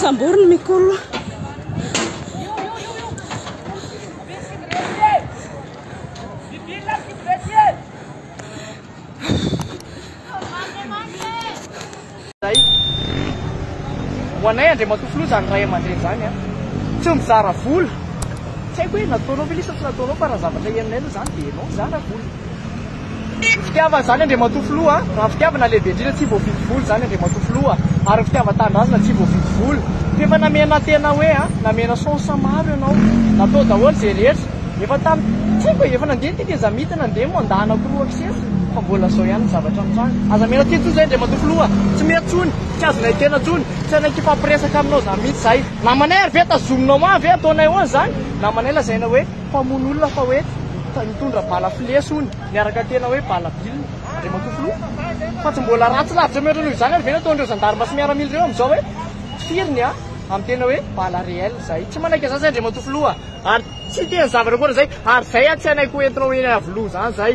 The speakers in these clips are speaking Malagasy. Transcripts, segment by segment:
Sambory ny mikolo. Zay. Ho anay Andriamatoa Filoha zany ray aman-dreny zany a. Tsy mizara vola. Tsy haiko hoe nataonao ve lesy sa tsy nataonao fa raha zavatra henonay aloha zany dia ianao mizara vola. Fitiavana zany Andriamatoa Filoha a! Raha fitiavana lehibe indrindra tsy voavidy vola zany Andriamatoa Filoha ary ny fitiavan-tanindrazana tsy voavidy vola. F'efa namena tena hoe a! Namena chance maro ianao. Natao daholo ze rehetra. Efa tam tsy haiko e! Efa nandeha ny teteza mita nandeha mandat anankiroa avy sesy fa mbola zao ihany ny zavatra mitranga. Aza amena teny tsony zay Andriamatoa Filoha a! Tsy mety tsony. Tsy azonay tena tsony. Tsy hainay kifampiresaka aminao zany mitsy zahay. Namanay ary ve tazominao an! Ve ataonay ahoana zany? Namanay lazaina hoe. Mpamono olona fa hoe nitondra bala flesy hono niaraka tena hoe bala bilina Andriamatoa Filoha. Fa tsy mbola ratsy lavitra mihoatra noho izany ary ve ny ataon'ireo zandarma sy miaramila ireo amin'izao hoe tifiriny an amin'ny tena hoe bala réel izay. Tsy manaiky an'izany izay Andriamatoa Filoha a! Ary tsy te ny zavatra ankoatra izay ary izay an tsy hanaiky ho entinao eny Iavoloha izany izay.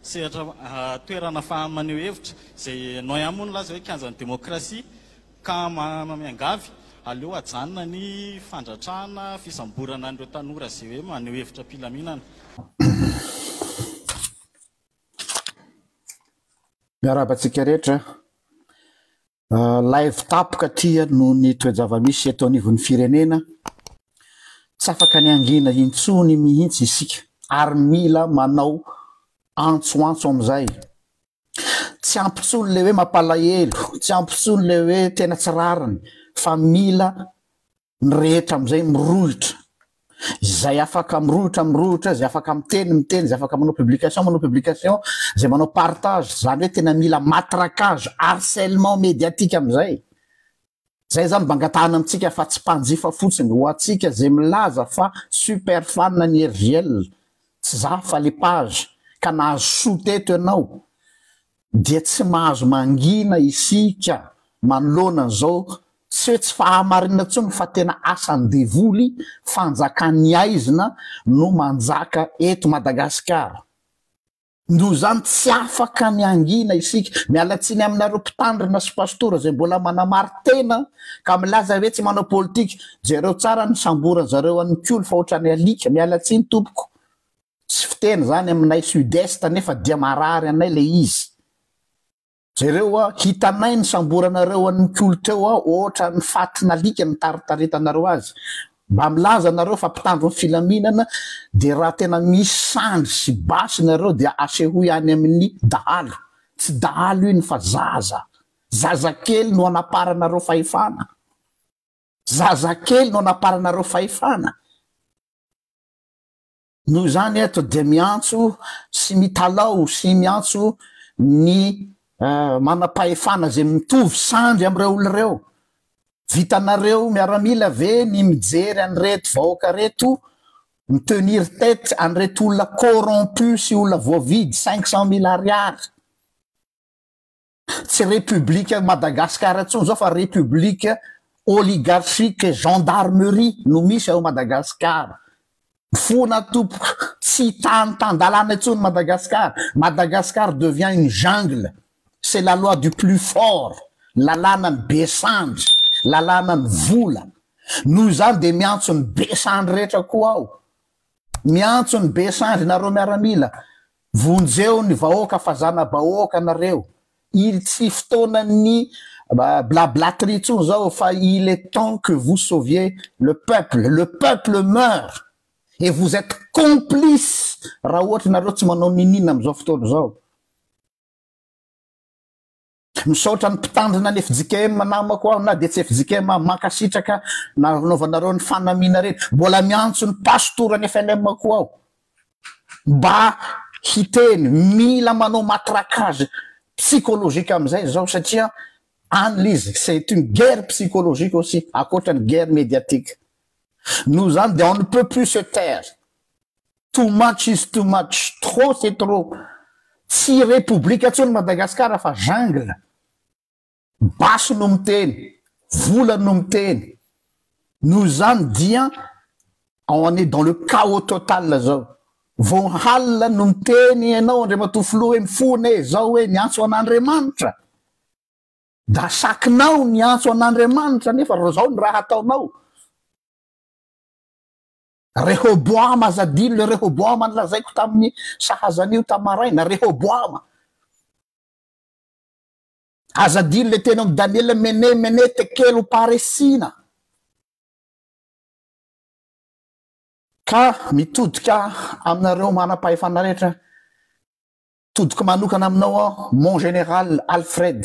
Sehatra toerana fa maneho hevitra izay Noya moa nilaza hoe kianjan'ny demokrasia ka manana miangavy aleo ajanona ny fandratrana fisamborana an'ireo tanora izay hoe maneho hevitra am-pilaminana. Miarahaba antsika rehetra. Laivo tapoka aty noho ny toe-javamisy eto anivon'ny firenena, tsy afaka ny hangina intsony mihitsy isika ary mila manao antsoantso amin'izay. Tsy ampy intsony ilay hoe mampalahelo, tsy ampy intsony ilay hoe tena tsy rariny fa mila Ny rehetra amin'izay mirohotra. Izay afaka mirohotra mirohotra, izay afaka miteny miteny, izay afaka manao publication manao publication, izay manao partage, izany hoe tena mila matraquage, harcèlement médiatique amin'izay. Izay izany mba angatahana amintsika fa tsy mpanjifa fotsiny, ho antsika izay milaza fa super fan an'i Herivielle, tsy za fa le page, ka nahazo soa teto ianao, dia tsy mahazo mangina isika manoloana an'izao tsy hoe tsy fahamarinana intsony fa tena asan'ny devoly, fanjakan'ny aizina no manjaka eto Madagasikara. Noho izany tsy afaka ny hangina isika. Miala tsiny aminareo mpitandrina sy pastora izay mbola manamari-tena ka milaza hoe tsy manao politika. Jereo tsara ny nisamboran'zareo an'i Nikoly fa ohatran'ny alika. Miala tsiny tompoko. Tsy fiteny zany aminay sud est nefa dia marary anay le izy. Jereo a, hitanay ny samboranareo an'i Mikolo teo a, ohatran'ny fatin'alika nitaritaretanareo azy. Mba milaza nareo fa mpitandro ny filaminana dia raha tena misy sandry sy basy nareo dia asehoy any amin'ny dahalo. Tsy dahalo iny fa zaza. Zazakely no anaparanareo fahefana. Zazakely no anaparanareo fahefana. Noho izany eto dia miantso sy mitalaho sy miantso ny manam-pahefana izay mitovy sandry amin'ireo olona ireo, vitanareo miaramila ve ny mijery an'ireto vahoaka ireto mi tenir tete an'ireto olona corrompus sy olona voavidy cinq cent mille ariary? Tsy République Madagascar intsony izao fa République Oligarchique Gendarmerie no misy ao Madagascar. Fona tompoko, tsy tany tan-dalàna intsony Madagascar. Madagascar devient une jungle. C'est la loi du plus fort. Lalànan'ny be sandry. Lalànan'ny vola. Noho izany dia miantso ny be sandry rehetra koa aho. Miantso ny be sandry nareo miaramila, vonjeo ny vahoaka fa zanabahoaka nareo, il tsy fotoanan'ny blablatry intsony zao fa il est temps que vous sauviez le peuple, le peuple meurt et vous etes complice raha ohatra nareo tsy manao ninin amzao fotoana zao. Misaotra ny mpitandrina ny fjkm namako aho na dia tsy fjkm aho, mankasitraka nanaovanareo ny fanamiana reny, mbola miantso ny pastora ny FLM koa aho mba hiteny, mila manao matraquage psychologique amin'izay izao satria any l'izy c'est une guerre psychologique aussi ankoatra ny guerre médiatique, noho izany dia on ne peut plus se taire. Too much is too much, trop c'est trop, tsy repoblika intsony Madagascar fa jungle, basy no miteny, vola no miteny, noho izany dia on est dans le chaos total zao, vao halina no miteny ianao Andriamatoa Filoha hoe mifona e, zao e, miantso an'Andriamanitra, dasakinao ny hiantso an'Andriamanitra nefa zao ny raha ataonao. Rehoboama, aza adino le Rehoboama nolazaiko tamin'ny sahazan'io tamin'ny maraina, Rehoboama. Aza adino le teny ao amin'ny Daniela mene mene tekelo uparesina. Ka mitodika aminareo manam-pahefana rehetra, todiko manokana aminao aho, mon général Alfred.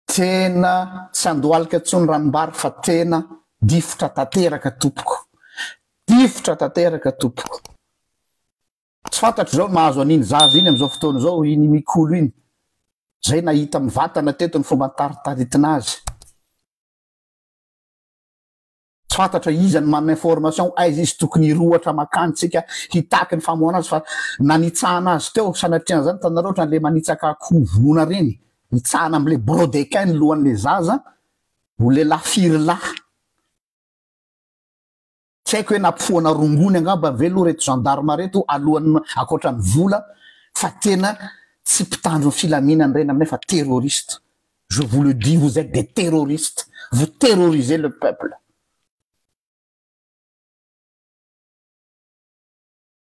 Tena tsy andohalika intsony ranombary fa tena difotra tanteraka tompoko. Difotra tanteraka tompoko. Tsy fantatro izao ny mahazo an'iny zaza iny amin'izao fotoana izao, iny Mikolo iny. Izay nahita mivantana teto ny fomba nitaritaritina azy. Tsy fantatra iza ny manana information aiza izy tokony hirohatra makany tsika hitaky ny famoahana azy fa na nitsahana azy teo sanatria anzany itanareo otrany le manitsaka akoho voana reny itsahana amle brodequin ny lohanle zaza ho lelah firy lah tsy aiko hoe napofohana rongony angamba ve lo reto gendarme reto alohan akoatrany vola fa tena tsy pitandro ny filaminana reny aminay fa terroriste Je vous le dis vous etes des terroristes vous terrorisez le peuple.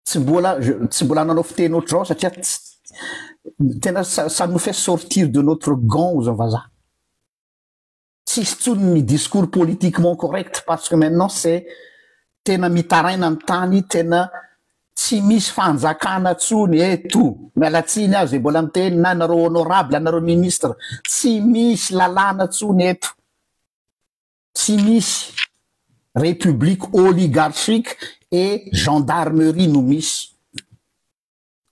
Tsy mbola tsy mbola nanao fiteny ohatr'izao satria tena ça nous fait sortir de notre gant ozy vazaha. Tsisy tsony ny discours politiquement correct parce que maintenant c'est tena mitaraina ny tany tena Tsy misy fanjakana tsony eto. Miala tsiny aho zay mbola miteny na nareo honorable anareo ministre. Tsy misy lalàna tsony eto. Tsy misy. République oligarchique et gendarmerie no misy.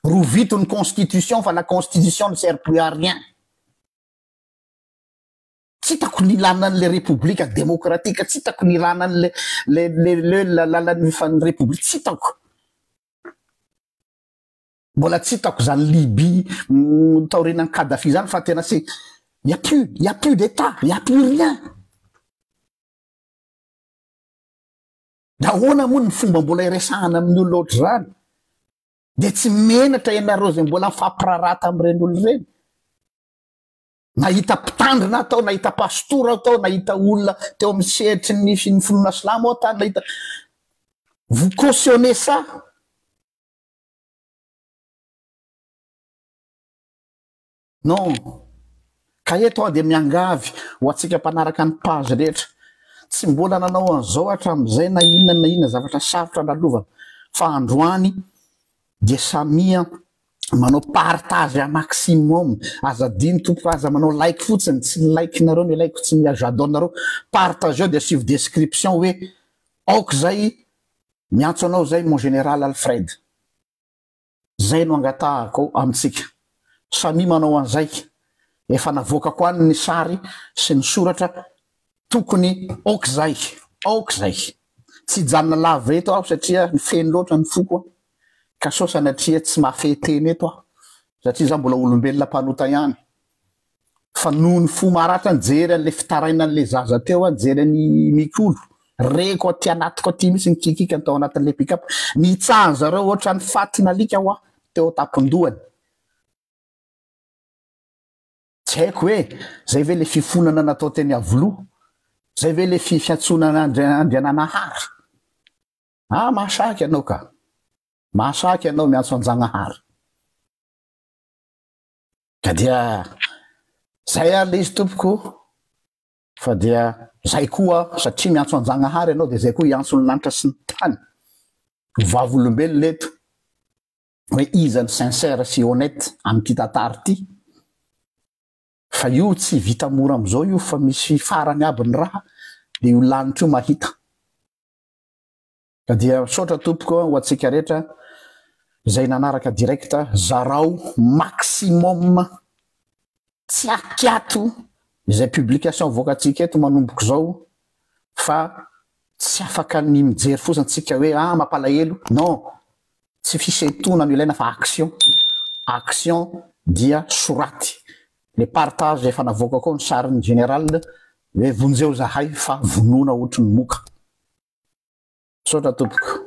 Rovito ny constitution fa la constitution ne sert plus à rien. Tsy hitako ny ilàna an'ilay repoblika demokratika, tsy hitako ny ilàna an'ilay le, le, le, le, làlan'ny fan'ny repoblika, tsy hitako. Mbola tsy hitako izany Libye mm, taorianan'i Kadhafi izany fa tena se il y a plus, il y a plus d'état, il y a plus rien. Da ahoana moa ny fomba mbola iresahana amin'ny olona ohatr'izany? Dia tsy menatra ianareo izay mbola mifampiraharaha tamin'ireny olona ireny? Nahita mpitandrina aho tao, nahita pastora aho tao, nahita olona teo amin'ny sehatry ny ny finoana silamo aho tany, nahita vous cautionnez ça? Non. Ka eto aho dia miangavy ho antsika mpanaraka ny page rehetra, tsy mbola nanao an'izao hatramin'izay na inona na inona zavatra sarotra lalovana, fa androany dia samia manao partage à maximum aza adino tompoko fa aza manao like fotsiny tsy ny like nareo no ilaiko tsy ny j'adore nareo partageo dia asio description hoe aoka izay miantso anao izay mon général Alfred zay no angatahako amintsika samia manao an'izay efa navoakako any ny sary sy ny soratra Tokony ok zay, ok zay. Tsy hijanona lava eto aho satria feno loatra ny foko ka sao sanatria tsy mahafehy teny eto aho satria za mbola olombelona mpanota ihany fa noho ny fo maratra nijery an'le fitarainan'le zaza teo aho nijery an'i Mikolo reko aty anatiko aty mihitsy ny kikikany tao anatin'le pick up nitsahan'ny zareo ohatran'ny fatin'alika hoa teo an-tampon-dohany Tsy haiko hoe zay ve le fifonana natao teny Iavoloha? Zay ve le fifiantsoana an'Andri Andriananahary? Ah mahasahy ianao ka! Mahasahy ianao miantso an'Jagnahary. Ka dia zay ary le izy tompoko fa dia zay koa satria miantso an'Jagnahary ianao dia zay koa hiantso ny lanitra sy ny tany. Ho vavolombelona eto. hoe iza no sincère sy honnête amin'ity tantara ity fa io tsy vita mora amin'izao io fa misy farany aby ny raha dia io lanitra io mahita ka dia misaotra tompoko ho antsika rehetra izay nanaraka direct zarao maximum tsy akiato izay publication voakantsika eto manomboka izao fa tsy afaka ny mijery fosa antsika hoe ah mampalahelo non Tsy fisentoana no ilaina fa action, action dia soraty le partage efa navoakako ao ny sarin'ny General hoe vonjeo zahay fa vonoina ohatry ny moka. Misaotra tompoko.